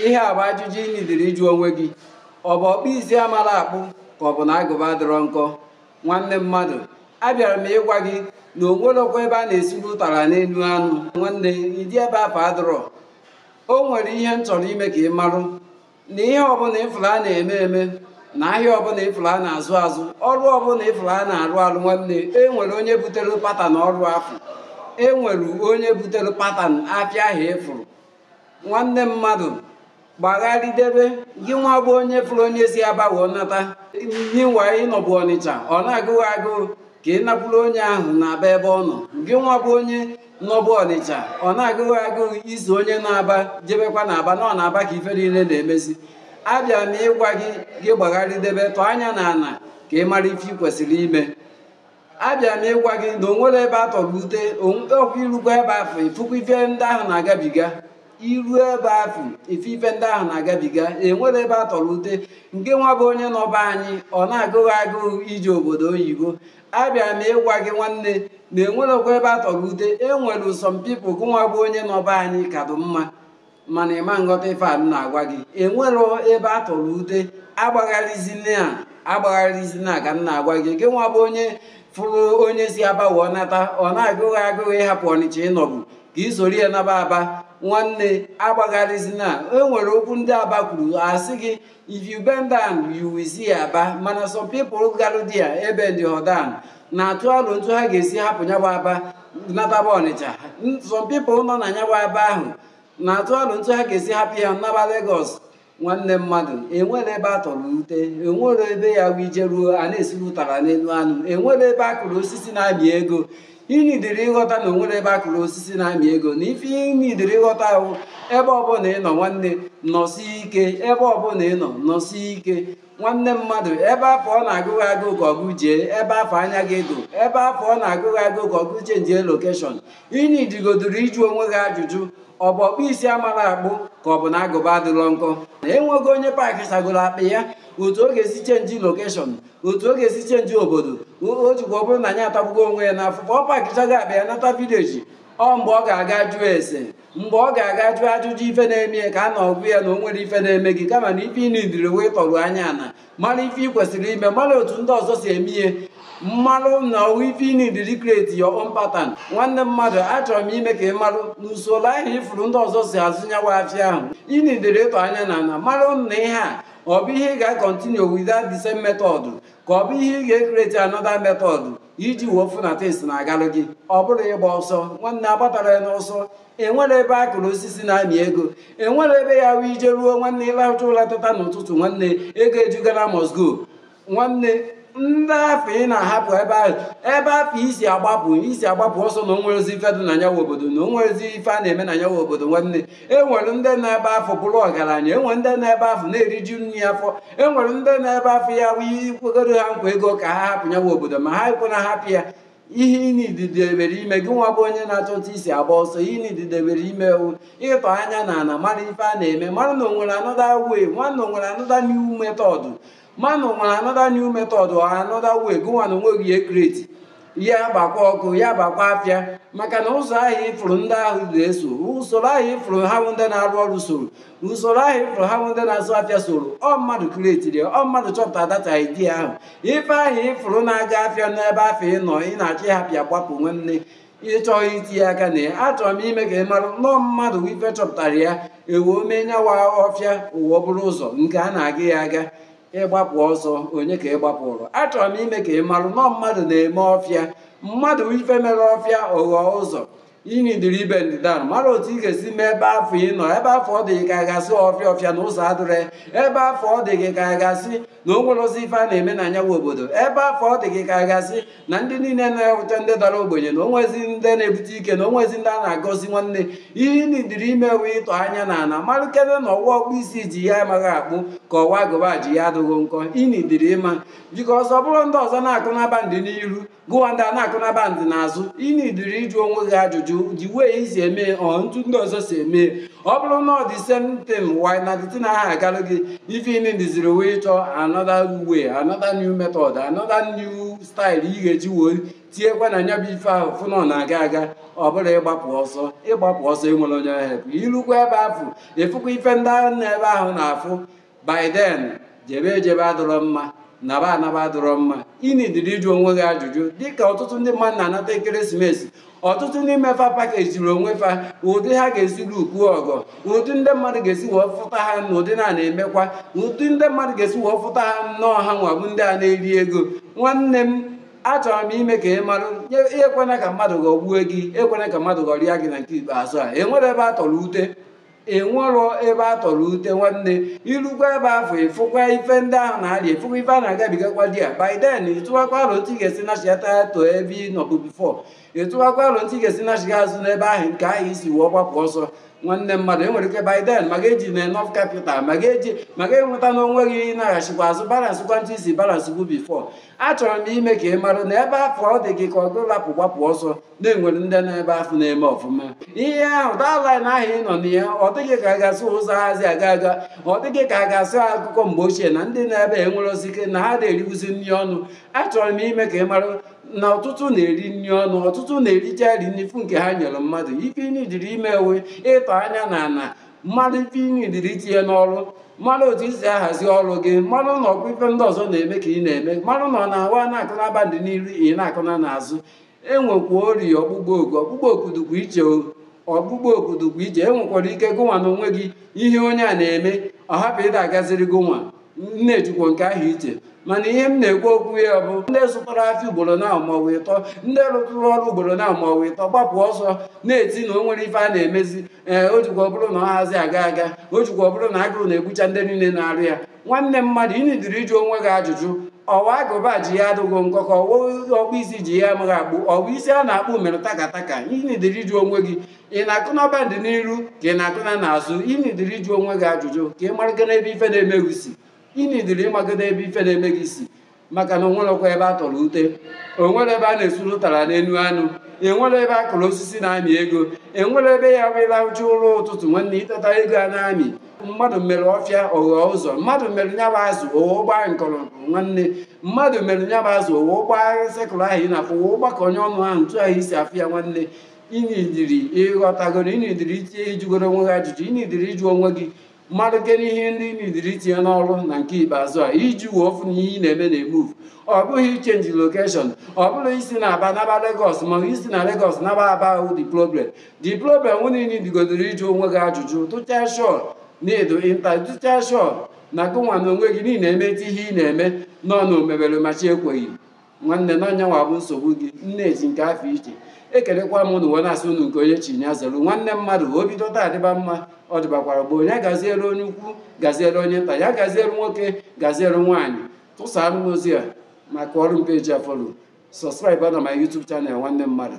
ihe a bụ ajụjụ ị nidiri ịjụ onwe gị ọ bụ ọkpụ isi amarọ akpụ ka ọ bụ na agụba adịrọ nkọ nwanne mmadụ abịara m ịgwa gị na o nwerọkwa ebe a na-esiri ụtara n'elu anụ nwanne ụdị ebe afụ adịrọ o nwere ihe m chọrọ ime ka ị marụ na ihe ọbụla ịfụrụ a na-eme eme na ahịa ọbụla ịfụrụ a na-azụ azụ ọrụ ọbụla ịfụrụ a na-arụ arụ nwanne e nwere onye butere patan ọrụ afụ e nwere onye butere patan afịa ahụ ịfụrụ nwanne mmadụ gbagharịdebe gị nwa bụ onye fụrụ onye si aba wee nata ngị nwa ị nọbu ọnịcha ọ na-agụ gị agụụ ka ị nakwuru onye ahụ n'aba ebe ọ nọ gị nwa bụ onye nọbu ọnịcha ọ na-agụ gị agụụ iso onye n'aba jebekwa na aba na ọ n'aba ka ife niile na-emezi abịa m ịgwa gị gị gbagharịdebe tọọ anya na ana ka ị mara ife ị kwesịrị ime abịa m ịgwa gị na o nwerọ ebe a tọrọ ute ọkwa i rukwa ebe afụ ị fụkwa ife ndị ahụ na-agabiga i ru ebe afụ ị fụ ife ndị ahụ na-agabiga enwerọ ebe a tọrọ ute ngị nwa bụ onye nọ be anyị ọ na-agụ gị agụụ ije obodo oyibo abịa m ịgwa gị nwanne na enwerọkwa ebe a tọrọ ute enwere some people gị nwa bụ onye nọ be anyị ka dị mma mana ịma nghọta ife a m na-agwa gị enwerọ ebe a tọrọ ute agbagharizina a agbagharizina ka m na-agwa gị gị nwa bụ onye fụrụ onye si aba wee nata ọ na-agụ gị agụụ ịhapụ ọnịcha ị nọbu ka ị soro ya naba aba nwanne agbagharizina e nwere okwu ndị aba kwuru a sị gị If you bend down, you will see Aba mana some people garụ dia ebendigo down na-atụ alo n'otu ha ga-esi hapụ ya bụ Aba nataba Ọnịcha some people nọ na ya bụ Aba ahụ na-atụ alo n'otu ha ga-esi hapụ ya naba Lagos nwanne mmadụ enwerọ ebe a tọrọ ute enwerọ ebe ya wụ ị jeruo a na-esiri ụtara n'elu anụ enwerọ ebe a kụrụ osisi na-amị ego Ị nidiri ịghọta na o nwerọ ebe a kụrụ osisi na-amị ego na ife ị nidiri ịghọta wụ ebe ọbụla ị nọ nwanne nọsi ike ebe ọbụla ị nọ nọsi ike nwanne mmadụ ebe afụ ọ na-agụ gị agụụ ka ọ gụ jee ebe afụ anya gị dị ebe afụ ọ na-agụ gị agụụ ka ọ gụ chenjie lokeshọn ị nidigodoro ịjụ onwe gị ajụjụ ọ bụ ọkpụ isi amarọ akpụ ka ọ bụ na agụba adịrọ nkọ na enwego onye paakịsagoro akpa ya otu ọ ga-esi chenji lokeshọn otu ọ ga-esi chenji obodo o jekwa ọ bụrụ na nya atagbuo onwe ya n'afụfụ ọ pakichaa akpa ya nata vileji ọ mgbe ọ ga-aga jụọ ese mgbe ọ ga-aga jụọ ajụjụ ife na-eme ya ka a na-agwa ya na o nwerọ ife na-eme gị kama na ife ị nidiri wụ tọrụ anya na ana mara ife ị kwesịrị ime mara otu ndị ọzọ si eme ihe malụ na ọ wụ ife ị nidiri kreti your own patan nwanne mmadụ achọrọ m ime ka ị marụ na usoro ahụ ị fụrụ ndị ọzọ si azụ nya wụ afịa ahụ ị nidiri ịtọ anya na ana marụ na ihe a ka ọ bụ ihe ị ga-akọntinu with that the same method ka ọ bụ ihe ị ga-ekreti another method iji wee fụ na things na-agalụ gị ọ bụrụ ịgba ọsọ nwanne agbatara ya n'ọsọ enwere ebe a kụrụ osisi na-amị ego enwere ebe ya wụ ị jeruo nwanne ị lahụcha ụla teta n'ụtụtụ nwanne ego eju Ghana must go nwanne ndị afụ ị na-ahapụ ebe ahụ ebe afụ i si agbapụ i si agbapụ ọsọ na onwerozi ife dị na nya wụ obodo na onwerozi ife a na-eme na nya wụ obodo nwanne enwere ndị nọ ebe afụ bụrụ ọgaranya enwere ndị nọ ebe afụ na-eriju nri afọ enwere ndị nọ ebe afụ ya bụ i kwegoro ha nkwa ego ka ha hapụ nya wụ obodo ma ha ekwe na hapụ ya ihe ị nidiri ime gị nwa bụ onye na-achọ otu i si agba ọsọ ihe ị nidiri ime wụ ịtọ anya na ana mara ife a na-eme mara na onwere another way ma na onwere another new method ma na o nwere another new method or another way gụnwa na onwe gị ekreti ya gbakwa ọkụ ya gbakwa afịa maka na ụzọ ahụ ị fụrụ ndị ahụ ga-eso usoro ahụ ị fụrụ ha bụ ndị na-arụ ọrụ soro usoro ahụ ị fụrụ ha bụ ndị na-azụ afịa soro ọ mmadụ kretiri ọ mmadụ chọpụta that idea ahụ ife ahụ ị fụrụ na-aga afịa n'ebe afụ ị nọ ị na-achọ ịhapụ ya gbapụ nwanne ị chọghị itinye aka na ya achọrọ m ime ka ị mara na ọ mmadụ ife chọpụtara ya ewee mee nya wụ ọfịa o wee bụrụ ụzọ nke a na-aga ya aga ịgbapụ ọsọ onye ka ị gbapụrụ achọrọ m ime ka ị marụ na ọ mmadụ na-eme ọfịa mmadụ ife mere ọfịa ọ ghọọ ụzọ ị nidiri ịbend down mara otu ị ga-esi mee ebe afụ ị nọ ebe afụ ọ dị gị ka a ga-asị ọfịa ọfịa na ụzọ adịrọ ebe afụ ọ dị gị ka a ga-asị na o nwerozi ife a na-eme na nya wụ obodo ebe afụ ọ dị gị ka a ga-asị na ndị niile nọ wụcha ndị dara ogbenye na onwezi ndị na-ebute ike na onwezi ndị a na-agọzi nwanne ihe ị nidiri ime wụ ịtọ anya na ana malụkene na ọ wụ ọkpụ isi ji ya amaghị akpụ ka ọ wụ agụba ji ya adịghị nkọ ị nidiri ịma because ọ bụrụ ndị ọzọ na-akụ na bandị n'iru gụwa ndị a na-akụ na bandị n'azụ ị nidiri ịjụ onwe gị ajụjụ the way i si eme ọ etu ndị ọzọ si eme ọ bụrụ na ọ the same thing why na the thing aha agalụ gị ife ị nidiziri wụ ịchọ another way another new method another new style ị ga-eji wee tinyekwa na nya bụ ife ahụ fụ na ọ na-aga aga ọ bụrụ ịgbapụ ọsọ ịgbapụ ọsọ enwere onye ahụ i lukwa ebe afụ ị fụkwa ife ndị ahụ nọ ebe ahụ na-afụ by then jebe ejebe adịrọ mma naba anaba adịrọ mma ị nidiri ịjụ onwe gị ajụjụ dịka ọtụtụ ndị mmadụ na-anata ekeresimesi ọtụtụ n'ime fa pakejiri onwe fa ụdị ha ga-esi lupu ọgọ ụdị ndị mmadụ ga-esi wee fụta ha na ụdị na na-emekwa ụdị ndị mmadụ ga-esi wee fụta ha na ọ ha nwa bụ ndị a na-eri ego nwanne m achọrọ m ime ka ị marụ ekwena ka mmadụ ghọgbuo gị ekwena ka mmadụ ghọrịa gị na nke ikpeazụ a enwere ebe a tọrọ ute enwerọ ebe a tọrọ ute nwanne i lukwa ebe afụ ịfụkwa ife ndị ahụ na-arịa ịfụkwa ife a na-agabigakwa there by then ịtụwakwa aro ntụ ị ga-esi nachigata to ebe ị nọbu before ịtụwakwa aro ntụ ị ga-esi nachiga azụ n'ebe ahụ nke ahụ i si wee gbapụ ọsọ nwanne mmadụ enwere ike by then ma ga-eji na enough capital ma ga-eji ma ga-enweta na onwe gị ịnaghachikwa azụ balansịkwa ntụ i si balansịbu before achọrọ m ime ka ị mara na ebe afụ ọ dị gị ka ọ gụ lapụ gbapụ ọsọ na-enwere ndị nọ ebe afụ na-eme ọfụma ihe ahụ that line ahụ ị nọ na ya ọ dị gị ka a ga-asị ụzọ hazi aga aga ọ dị gị ka a ga-asị akụkọ mgbe ochie na ndị na-ebe enwere osike na ha na-eriwuzi nri ọnụ achọrọ m ime ka ị mara na ọtụtụ na-eri nri ọnụ ọtụtụ na-ericha ri n'ifu nke ha nyere mmadụ ife ị nidiri ime wụ ịtọ anya n'ana mara ife ị nidiri itinye n'ọrụ mara otu i si ahazi ọrụ gị mara na ọkwa ife ndị ọzọ na-eme ka ị na-eme mara na ọ na-awa na-akụ n'aba dị n'iru ị na-akụ na n'azụ enwekwara ọkpụkpọ oku ọkpụkpọ oku dịkwa iche o ọkpụkpọ oku dịkwa iche enwekwara ike gụnwa na onwe gị ihe onye a na-eme ọ hapụ ịda agaziri gụnwa m na-ejikwa nke ahụ iche mana ihe m na-ekwu okwu ya bụ ndị zụtara afịa ugboro na maọbụ ịtọ ndị rụtụrụ ọrụ ugboro na maọbụ ịtọ gbapụ ọsọ na-eti na o nwerọ ife a na-emezi ee o jikwa ọ bụrụ na ọ hazi aga aga o jikwa ọ bụrụ na agụrụ na-egbucha ndị niile na-arụ ya nwanne mmadụ ị nidiri ịjụ onwe gị ajụjụ ọwa agụba ji ya adịghị nkọ ka ọwa ọkpụ isi ji ya amaghị akpụ ọwa isi a na-akpụ mere takataka ị nidiri ịjụ onwe gị ị na-akụ na bandị n'iru ka ị na-akụ na n'azụ ị nidiri ịjụ onwe gị ajụjụ ka ị maragodo ebe ife na-eme gị si ị nidiri ịmagodo ebe ife na-eme gị si maka na enwerọkwa ebe a tọrọ ute enwerọ ebe a na-esuru ụtara n'elu anụ enwerọ ebe a kụrụ osisi na-amị ego enwerọ ebe ya bụ ị lahụcha ụla ụtụtụ nwanne i teta ego ana-amị mmadụ mere ọfịa ọ ghọ ụzọ mmadụ mere nya bụ azụ o wee gbaa nkọrọ nwanne mmadụ mere nya bụ azụ o wee gbaa circle ahụ ị na-afụ o wee gbakọ onwe ọnụ ahụ ntu ahụ i si afụ ya nwanne ị nidiri ịghọtagoro ị nidiri itinye ịjụgoro onwe gị ajụjụ ị nidiri ịjụ onwe gị malụ kee ihe ndị ị nidiri itinye n'ọrụ na nke ikpeazụ a iji wee fụ na ihe ị na-eme na-emuvu ọ bụghị ichenji location ọ bụrọ isi na Aba naba Lagos ma ọ bụ isi na Lagos naba Aba awụ the problem the problem wụ ị nidigodoro ịjụ onwe gị ajụjụ tụchaa sure na ịdụ ịnta tụchaa sure na gụnwa na onwe gị niile emeti ihe ị na-eme nọ na omebere machi ekweghị nwanne na nya nwa bụ nsogbu gị nne eji nke afụ iche ekelekwa m unu wee na-asị unu nke onye chi ya zelu nwanne mmadụ o bido taa adịba mma ọ dịbakwara gboo nya gaziere onye ukwu gaziere onye nta ya gaziere nwoke gaziere nwaanyị tụsara m ozi a makọrụ m page a follow subscribe na my YouTube channel nwanne mmadụ